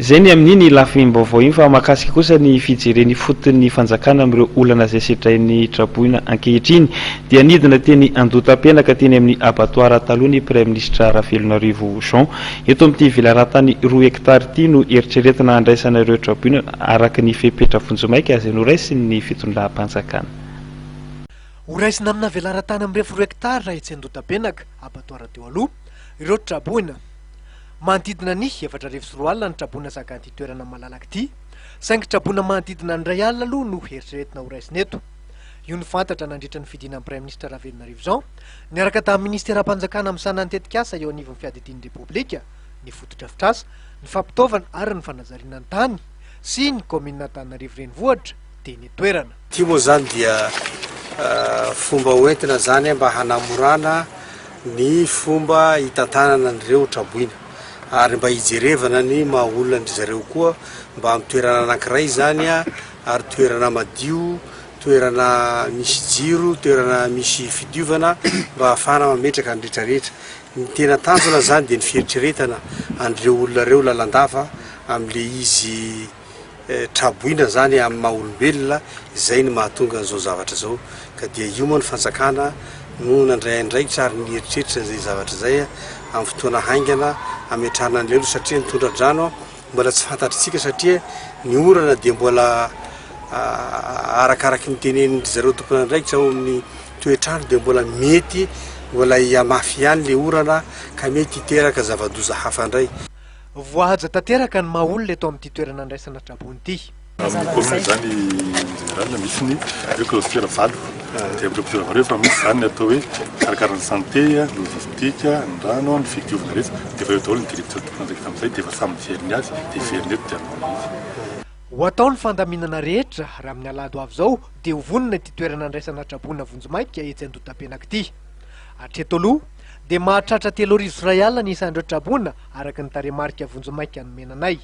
Izay ny amin'iny ilafim-baovao iny fa mahakasika kosa ny fijerena ifoton'ny fanjakana amin'ireo olana izay sedrain'ny traboina ankehitriny dia nidina teny Andotapenaka teny amin'ny abatoara taloha ny Praiminisitra Ravelonarivo Jean. Eto amin'ity velaran-tany roa hektara ity no eritreretina handraisana ireo traboina araka ny fepetra vonjimaika izay noraisin'ny fitondram-panjakana. Ho raisina amina velaran-tany mirefy roa hektara etsy Andotapenaka, abatoara teo aloha, ireo traboina. Manodidina ny efatra arivo sy roa alina ny traboina zakan'ity toerana malalaka ity, saingy traboina manodidina ny iray alina aloha no eritreretina ho raisina eto. Io no fantatra nandritra ny fidinan'ny Praiminisitra Ravelonarivo Jean niaraka tamin'ny Minisiteram-panjakana misahana ny tetikasa eo anivon'ny Fiadidian'ny Repoblika, ny Fotodrafitrasa, ny Fampitaovana ary ny Fanajariana ny Tany sy ny Kaominina Antananarivo Renivohitra, dia ny toerana. Ity moa izany dia fomba hoentina izany mba hanamorana ny fomba hitantanana an'ireo traboina ary mba hijerevana ny maha olona an-dry zareo koa mba amin'ny toerana anankiray izany ary toerana madio, toerana misy jiro, toerana misy fidiovana mba hahafahana mametraka ny rehetrarehetra. Ny tena tanjona izany dia ny fieritreretana an'ireo olona ireo lalandava amin'ilay izy. traboina zany amin'ny maha olombelona izay ny mahatonga an'izao zavatra izao ka dia io moa ny fanjakana no nandray andraikitra ary nieritreritra izay zavatra izay amin'ny fotoana haingana ametrahana ny lelo satria nitondra drano mbola tsy fantatritsika satria ny orana dia mbola ah, arakaraky ny tenen'ny zareo tompon'andraikitra ao amin'ny toetrano dia mbola mety mbola hihamafy ihany le orana ka mety hiteraka zava-doza hafa indray Voahaja tanteraka ny maha olona eto amin'ity toerana andraisana tra-boina ity. Amin'ny kaomina izany en général misy ny hoe clôture valo dia clôture valo rehefa misy izany ny atao hoe mikarakara ny santé, logistique, ny rano, ny fidiovana rehetra dia efa eo daholo ny directeur de plante rehefa amin'izay dia efa samy mijery ny azy dia heveriny eto dia anaovana izy. Ho atao ny fandaminana rehetra raha amin'ny alahady ho avy izao dia ho vonona ity toerana andraisana tra-boina vonjimaika etsy Andotapenaka ity. Hatreto aloha dia mahatratra telo arivo sy iray alina ny isan'ireo traboina araka ny tarehimarika vonjimaika nomena anay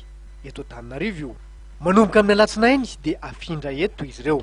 eto Antananarivo io. Manomboka amin'ny alatsinainy dia afindra eto izy ireo.